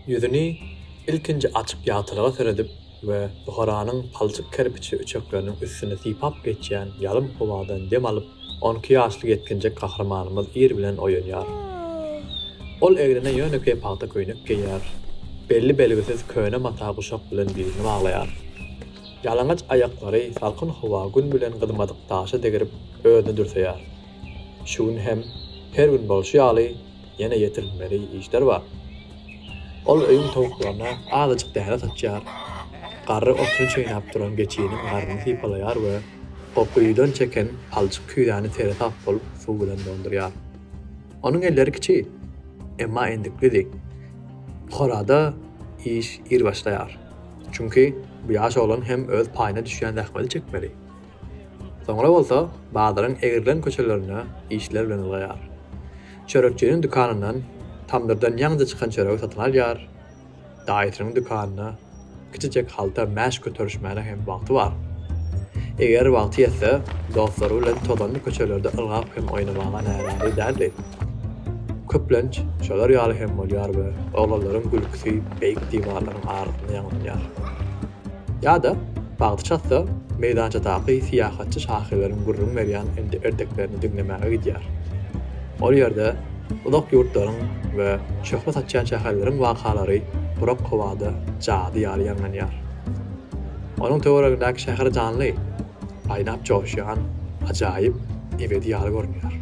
Ýüzüni ilkinji açyk ýagtylyga seredip we Buharanyň palçyk kerpiçli üçekleriniň üstüni sypap geçýän ýalym howadan dem alyp, on iki ýaşly ýetginjek gahrymanymyz ir bilen oýanýar. Ol egnine ýönekeý pagta köýnek geýýär, belli belgisiz köne mata guşak bilen bilini baglaýar. Ýalaňaç aýaklary salkyn howa gün bilen gyzmadyk daşa degrip özüni dürseýär. Şu gün hem her gün bolşy ýaly, ýene ýetirilmeli işler bar. Ol öýüň towuklaryna azajyk däne saçýar, garry otuny çeýnäp duran geçiniň garnyny sypalaýar we o guýudan çeken palçyk küýzäni seresap bolup suw bilen doldurýar. Onuň elleri kiçi, emma endiklidi. Puharada iş ir başlaýar. Çünki bu ýaş oglan hem öz paýyna düşýän zähmeti çekmeli. Soňra bolsa bazaryň egrilen köçelerine işler bilen ylgaýar. Çörekçiniň dükanyndan tamdyrdan ýaňja çykan çöregi satyn alýar. Daýysynyň dükanyna kiçijek halta mäş göterişmäne hem wagty bar. Eger wagty ýetse, dostlary bilen tozanly köçelerde ylgap hem oýnamaga närazy däldi. Köplenç şolar ýaly hem bolýar we oglanlaryň gülküsi beýik diwarlaryň arasynda ýaňlanýar. Ýa-da, bagty çatsa, meýdançadaky syýahatçy şahyrlaryň gürrüň berýän ende-erdeklerini diňlemäge gidýär. Ol ýerde uzak ýurtlaryň we şöhle saçýan şäherleriň wakalary gurak howada jady ýaly ýaňlanýar. Onuň töweregindäki şäher janly, aýnap joşýan ajaýyp ebedi ýaly görünýär.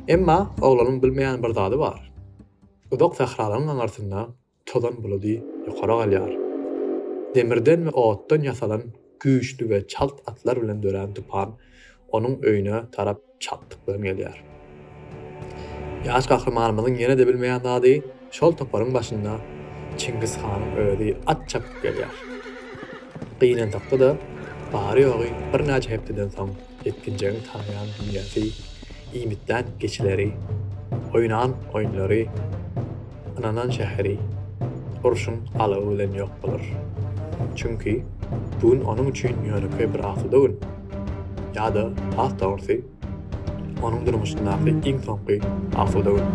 Emma oglanyň bilmeýän bir zady bar. Uzak sähralaryň aňyrsynda tozan buludy ýokary galýar. Demirden we otdan ýasalan güýçli we çalt atlar bilen dörän tupan onuň öýüne tarap çaltlyk bilen gelýär. Ýaş gahrymanymyzyň ýene-de bilmeýän zady, şol toparyň başynda Çingiz hanyň özi at çapyp gelýär. Gynansakda-da, bary-ýogy birnäçe hepdeden soň, Ýetginjegiň tanýan dünýäsi, iýmitlän geçileri, oýnan oýunlary, ynanan şäheri urşuň alawy bilen ýok bolar. Çünki bu gün onuň üçin ýönekeý bir asuda gün. Ýa-da, has dogrusy, onuň durmuşyndaky iň soňky asuda gün.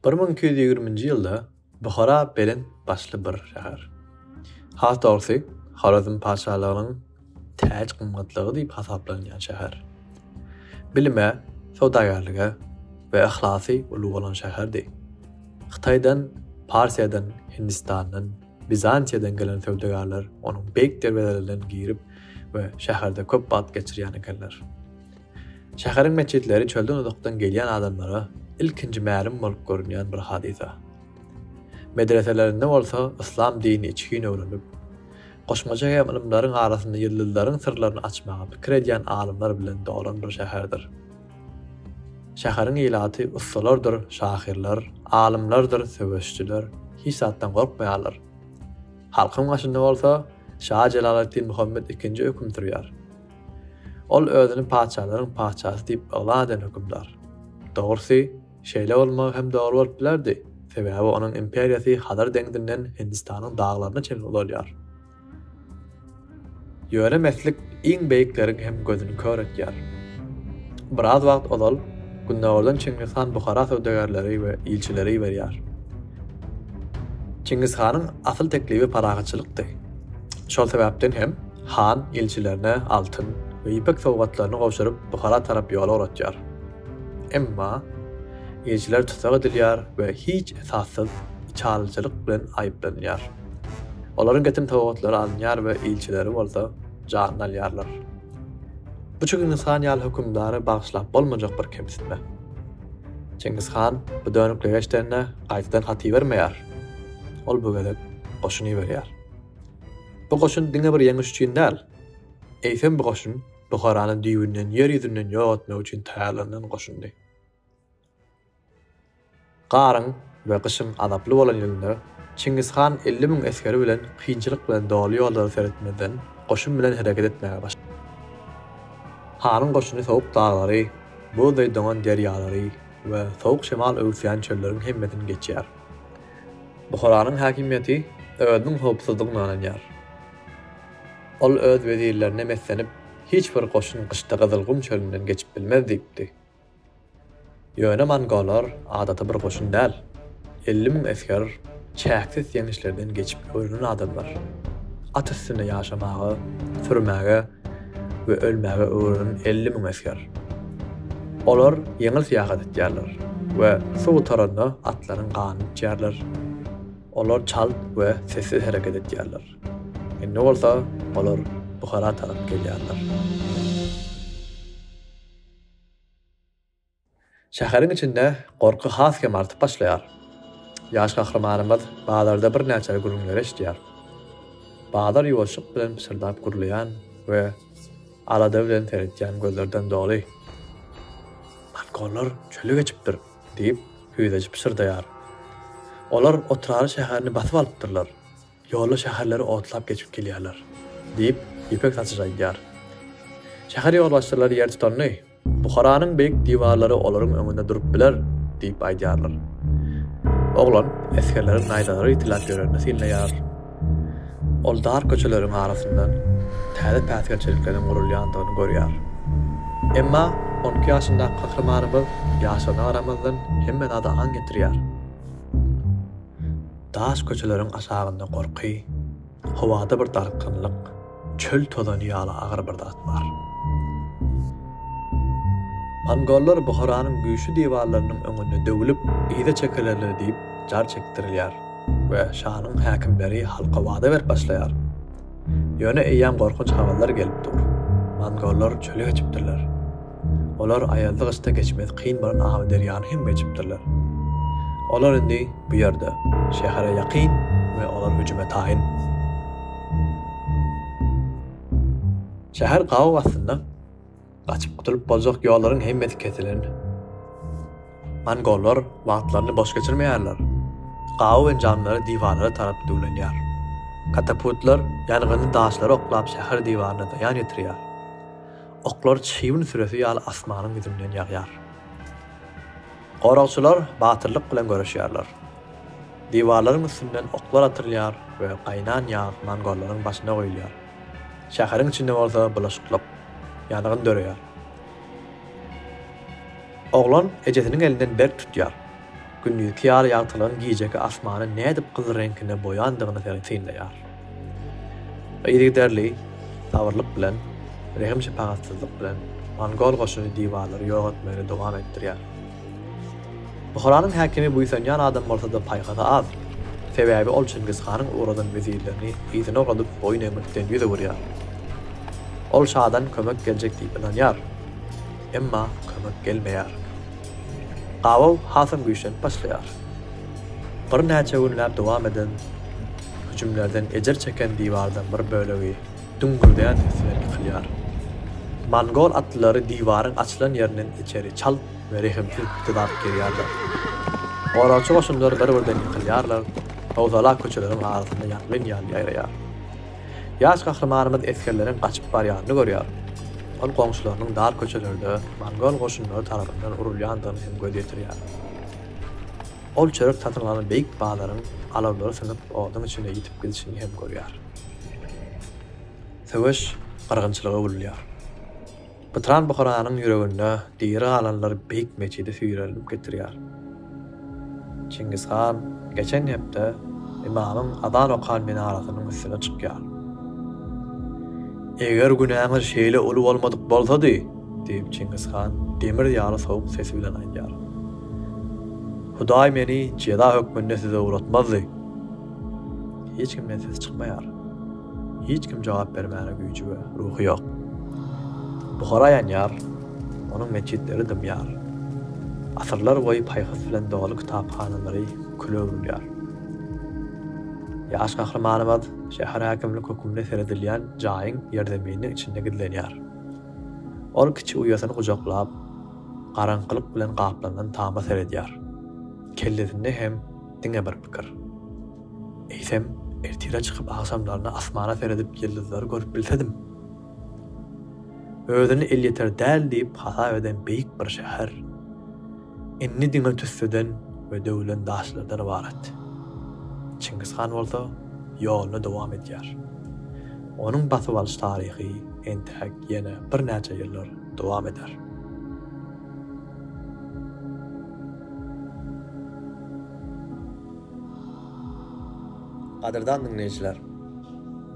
Bir müň iki ýüz ýigriminji ýylda Buhara belent başly bir şäher. Has dogrusy, Horezm patyşalygynyň täç-gymmatlygy diýip hasaplanýan şäher. Bilime, söwdagärlige we yhlasy uly bolan şäherdi. Hytaýdan, Parsiýadan, Hindistandan, Bizantiýadan gelen söwdagärler onuň beýik derwezelerinden girip we şäherde köp wagt geçirýän ekenler. Şäheriň metjitleri çölden uzakdan gelýän adamlara ilkinji mälim bolup görünýän bir hadysa. Medreselerinde bolsa yslam dinini içgin öwrenip, goşmaça hem ylymlaryň arasynda ýyldyzlaryň syrlaryny açmaga pikir edýän alymlar bilen dolan bir şäherdir. Şäheriň ilaty ussalardyr şahyrlar, alymlardyr söweşçiler hiç zatdan gorkmaýarlar. Halkyň başynda bolsa şa Jelaleddin Muhammet ikinji höküm sürýär. Ol özüni patyşalaryň patyşasy diýip yglan eden hökümdar. Dogrusy, şeýle bolmagy hem dogry bolup bilerdi, sebäbi onuň imperiýasy Hazar deňzinden Hindistanyň daglaryna çenli uzalýar. Ýöne meslik iň beýikleriň hem gözüni kör etýär. Biraz wagt ozal Gündogardan Çingiz han Buhara söwdagärleri we ilçileri iberýär. Çingiz hanyň asyl teklibi parahatçylykdy. Şol sebäpden hem han ilçilerine altyn we ýüpek sowgatlaryny gowşuryp Buhara tarap ýol ugratýar. Emma ilçiler tussag edilýär we hiç esassyz içalyjylyk bilen aýyplanýar. Olaryň getim sowgatlary alynýar we ilçileri bolsa janyny alýarlar. Bu Çingiz han ýaly hökümdary bagyşlap bolmajak bir kemsitme. Çingiz han bu dönüklige eşidende gaýtadan hat ibermeýär. Ol bu gezek goşun iberýär. Bu goşun diňe bir ýeňiş üçin däl, eýsem bu goşun Buharany düýbünden ýer ýüzünden ýok etmek üçin taýýarlanan goşundy. Garyň we gyşyň azaply bolan ýylynda Çingiz han elli müň esgeri bilen kynçylyk bilen doly ýollary seretmezden goşun bilen hereket etmäge başlady. Hanyň goşuny sowuk daglary, buzdaý doňan derýalary we sowuk şemal öwüsýän çölleriň hemmesini geçýär. Buharanyň häkimiýeti özüniň howpsuzdygyna ynanýar. Ol öz wezirlerine meslenip, Hiç bir goşun gyşda Gyzylgum çölünden geçip bilmez diýipdi. Ýöne mongolar adaty bir goşun däl. Elli müň esger çäksiz ýeňişlerden geçip öwrenen adamlar. At üstünde ýaşamaga, sürmäge we ölmäge öwrenen elli müň esger. Olar ýeňil syýahat etýärler we suw gutaranda atlaryň ganyny içýärler. Olar çalt we sessiz hereket etýärler. Indi bolsa olar Buhara tarap gelýärler. Şäheriň içinde gorky has hem artyp başlaýar. Ýaş gahrymanymyz bazarda birnäçe gürrüňleri eşidýär. Bazar ýuwaşlyk bilen pyşyrdap gürleýän we alada bilen seretýän gözlerden doly. Mongoller çöli geçipdir, diýip, hüýzeçi pyşyrdaýar. Olar otraly şäherini basyp alypdyrlar. Ýolda şäherleri otlap geçip gelýärler, diýip, ýüpek saçyjy aýdýar. Şäher ýolbaşçylary ýer tutanyny, Buharanyň beýik diwarlary olaryň öňünde durup biler, diýip aýdýarlar. Oglan esgerleriň naýzalary ýitiläp ýörenini synlaýar. Ol dar köçeleriň arasyndan täze päsgelçelikleriň gurulýandygyny görýär. Emma on iki ýaşyndaky gahrymanymyz ýaşlygyna garamazdan hemme zada aň ýetirýär. Daş köçeleriň aşagynda gorky, howada bir dartgynlyk, çöl tozany ýaly agyr bir zat bar. Mongollar Buharanyň güýçli diwarlarynyň öňünde döwülip, yza çekilerler diýip jar çekdirilýär we şanyň häkimleri halka wada berip başlaýar. Ýöne eýýäm gorkunç habarlar gelip dur. Mongollar çöle geçipdirler. Olar aýazly-gyşda geçmesi kyn bolan Amyderýany hem geçipdirler. Olar indi bu ýerde, şähere ýakyn we olar hüjüme taýyn. Şäher gabaw astynda. Gaçyp gutulyp boljak ýollaryň hemmesi kesilen. Mongollar wagtlaryny boş geçirmeýärler. Gabaw enjamlary diwarlara tarap düwlenýär. Kataputlar ýangynly daşlary oklap şäher diwaryna zyýan ýetirýär. Oklar çybyn süresi ýaly asmanyň ýüzünden ýagýar. Goragçylar batyrlyk bilen göreşýärler. Diwarlaryň üstünden oklar atylýar we gaýnan ýag mongollaryň başyna guýulýar. Şäheriň içinde bolsa bulaşyklyk, ýangyn döreýär. Oglan ejesiniň elinden berk tutýar. Gündiziňki ýaly ýagtylan gijeki asmany nädip gyzyl reňkine boýandygyny synlaýar. Yzygiderli sabyrlyk bilen, rehim-şepagatsyzlyk bilen mongol goşuny diwarlary ýok etmegini dowam etdirýär. Buharanyň häkimi buýsanýan adam bolsa-da paýhasy az, sebäbi ol Çingiz hanyň ugradan wezirlerini yzyna ugradyp boýun egmekden ýüz öwürýär. Ol şadan kömek geljek diýip ynanýar, emma kömek gelmeýär. Gabaw hasam güýçlenip başlaýar. Birnäçe günläp dowam eden hüjümlerden ejir çeken diwardan bir bölegi düňňürdýän ses bilen ýykylýar. Mongol atlylary diwaryň açylan ýerinden içeri çalt we rehimsiz pytyldap girýärler. Goragçy goşunlar bir-birden ýykylýarlar, howsala köçeleriň arasynda ýangyn ýaly ýaýraýar. Ýaş gahrymanymyz esgerleriň gaçyp barýanyny görýär. Ol goňşularynyň dar köçelerde mongol goşunlary tarapyndan urulýandygyna hem göz ýetirýär. Ol çörek satyn alan beýik bazaryň alawlary synyp oduň içinde ýitip gidişini hem görýär. Söweş gyrgynçylyga öwrülýär. Pytran Buharanyň ýüreginde diri galanlar Beýik metjidi süýrenilip getirýär. Çingiz han geçen hepde ymamyň azan okan minarasynyň üstüne çykýar. Eger günäňiz şeýle uly bolmadyk bolsady, diýip Çingiz han demir ýaly sowuk sesi bilen aýdýar. Hudaý meni jeza hökmünde size ugratmazdy. Hiç kimden ses çykmaýar. Hiç kim jogap bermäne güýji we ruhy ýok. Buhara ýanýar, onuň metjitleri dymýar. Asyrlar boýy paýhas bilen doly kitaphanalary küle öwrülýär. Ýaş gahrymanymyz şäher häkimlik hökümli seredilýän jaýyň ýerzemininiň içinde gizlenýär. Ol kiçi uýasyny gujaklap, garaňkylyk bilen gaplanan tama seredýär. Kellesinde hem diňe bir pikir. Eýsem, ertire çykyp agşamlaryna asmana seredip ýyldyzlary görüp bilsedim! Özüni elýeter däl diýip hasap eden beýik bir şäher indi diňe tüsseden we döwülen daşlardan ybarat. Çingiz han bolsa ýoluny dowam edýär. Onuň basyp alyş taryhy entäk ýene birnäçe ýyllar dowam eder. Gadyrdan diňleýjiler!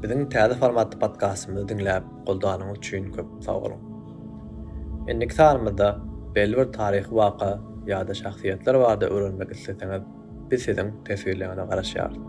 Biziň täze formatly podkastymyzy diňläp goldanyňyz üçin köp sag boluň! Indiki sanymyzda belli bir taryhy waka ýa-da şahsyýetler barada öwrenmek isleseňiz, biz siziň teswirleriňize garaşýarys.